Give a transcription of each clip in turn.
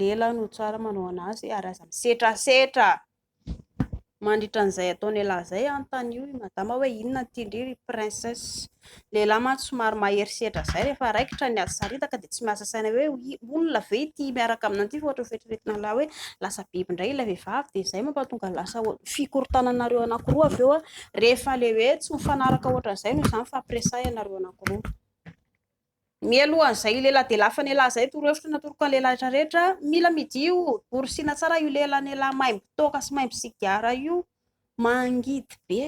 Lela no tsara manao anazy ary aza misetrasetra. Mandritra an'izay ataon'ialahy izay anontanio i madama hoe inona no tian-dry ry princesse. Lehilahy mantsy somary mahery setra izay rehefa raikitra ny ady saritaka dia tsy miasa saina hoe olona ve ity miaraka aminao ity fa ohatra ny fieritreretana ialahy hoe lasa biby indray ilay vehivavy dia izay mampahatonga ny lasa fikorontanana anareo anankiroa avy eo rehefa ilay hoe tsy mifanaraka ohatran'izay noho izany fampiresahina anareo anankiroa. Mialohan izay io lehilahy delafa n'ialahy izay toro hevitra natoroko an'i lehilahy rehetra rehetra mila midio borosina tsara io lehilahy n'ialahy maimbo toaka sy maimbo sigara io mangidy be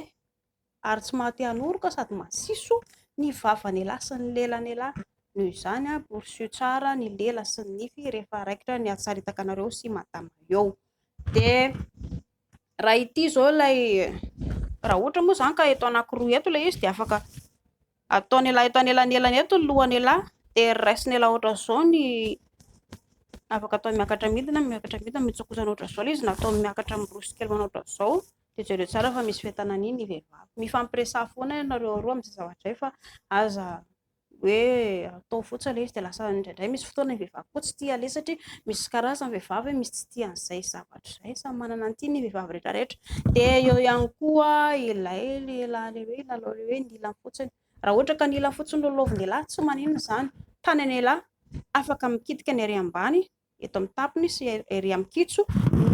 ary tsy maha te hanoroka sady masiso ny vava n'ialahy sy ny lela n'ialahy noho izany a borosio tsara ny lela sy ny nify rehefa raikitra ny hatsaritaka anareo sy madama eo dia raha ity izao ilay raha ohatra moa izany ka eto anakiroa eto ilay izy dia afaka Ataon'ialahy eto anelanelan eto ny lohany ialahy dia raisina ialahy ohatran'izao ny afaka atao miakatra midina, miakatra midina, mitsokosana ohatran'izao ilay izy na atao miakatra miroso kely manao ohatran'izao dia jereo tsara fa misy fentanan'iny ny vehivavy. Mifampiresaha foana ianareo roa amin'izay zavatra izay fa aza hoe atao fotsiny ilay izy dia lasa indraindray misy fotoana ny vehivavy koa tsy tia aleha satria misy karazany ny vehivavy misy tsy tia an'izay zavatra. Hatrizay, samy manana ny tiany ny vehivavy rehetra rehetra. Dia eo ihany koa ilay lehilahy ilay hoe lalao ilay hoe ny ilany fotsiny. Raha ohatra ka ny ilany fotsiny no lalaovin'ialahy, tsy maninona izany. Tany an'ialahy, afaka mikitika ny ery ambany, eto amin'ny tapony sy ery amin'ny kitjo.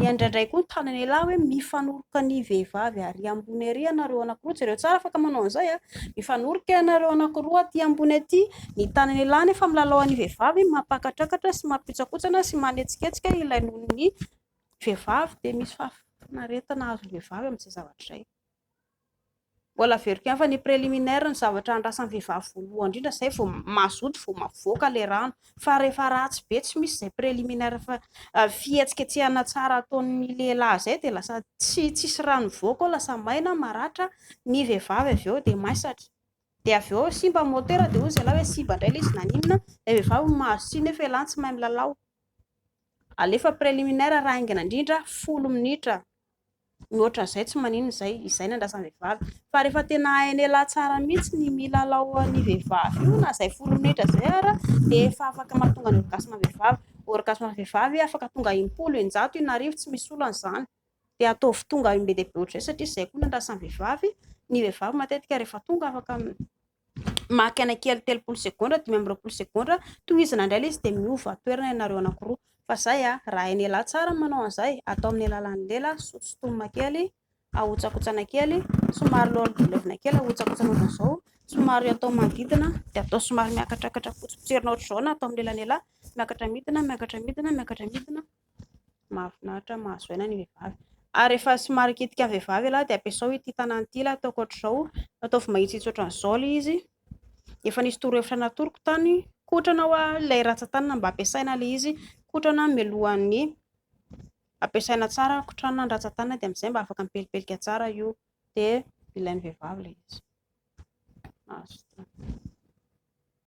Ny andraindray koa ny tany an'ialahy hoe mifanoroka ny vehivavy ary ambony ery ianareo anankiroa. Jereo tsara, afaka manao an'izay. Mifanoroka ianareo anankiroa aty ambony aty, Ny tany an'ialahy anefa milalao an'ny vehivavy, mampakatrakatra sy mampihotsakotsana sy manetsiketsika ilay nonon'ny vehivavy dia misy fahafinaretana azon'ny vehivavy amin'izay zavatra izay. Mbola averiko ihany fa ny préliminaire ny zavatra andrasan'ny vehivavy voalohany indrindra izay vao mazoto vao mavoaka ilay rano fa rehefa ratsy be tsy misy izay préliminaire fa fihetsiketsehana tsara ataon'ny lehilahy izay dia lasa tsy tsisy rano mivoaka ao lasa maina maratra ny vehivavy avy eo dia maisatra. Dia avy eo simba ny motera dia hoy ny zalahy hoe simba indray ilay izy naninona. Ilay vehivavy no mahazo tsiny nefa ialahy no tsy mahay milalao. Alefa préliminaire raha haingana indrindra folo minitra. Ny ohatran'izay tsy maninona izay. Izay no andrasan'ny vehivavy. Fa rehefa tena hain'ialahy tsara mihitsy ny milalao an'ny vehivavy io na izay folo minitra izay ara dia efa afaka mahatonga ny orgasme vehivavy. Orgasme vehivavy afaka tonga impolo, eninjato, inarivo tsy misy olana izany. dia ataovy tonga amin be dia be ohatr'izay satria zay koa ny andrasan'ny vehivavy, ny vehivavy matetika rehefa tonga afaka maka aina kely telopolo segondra dimy amby roapolo segondra tohizana indray ilay izy dia miova toerana ianareo anankiroa fa zay ah raha hain'ialahy tsara ny manao an'izay atao amin'ny alalan'ny lela sotosotomina kely ahotsakotsana kely somary levona kely ahotsakotsana ohatr'izao somary atao manodidina dia atao somary miakatrakatra fotsy potserina ohatr'izao na atao amin'ny lelan'ialahy miakatra midina miakatra midina miakatra midina mahafinaritra mahazo aina ny vehivavy ary efa somary kitika vehivavy lahy dia ampiasao ity tanany ity lahy ataoko ohatr'izao ataovy mahitsitsy ohatr'izao ilay izy efa nisy torohevitra natoroko tany kotrana hoa ilay ratsan-tanana mba ampiasaina ilay izy kotrana mialohan'ny ampiasaina tsara kotrana ny ratsan-tanana dia amin'izay mba afaka mipelipelika tsara io dia ilain'ny vehivavy ilay izy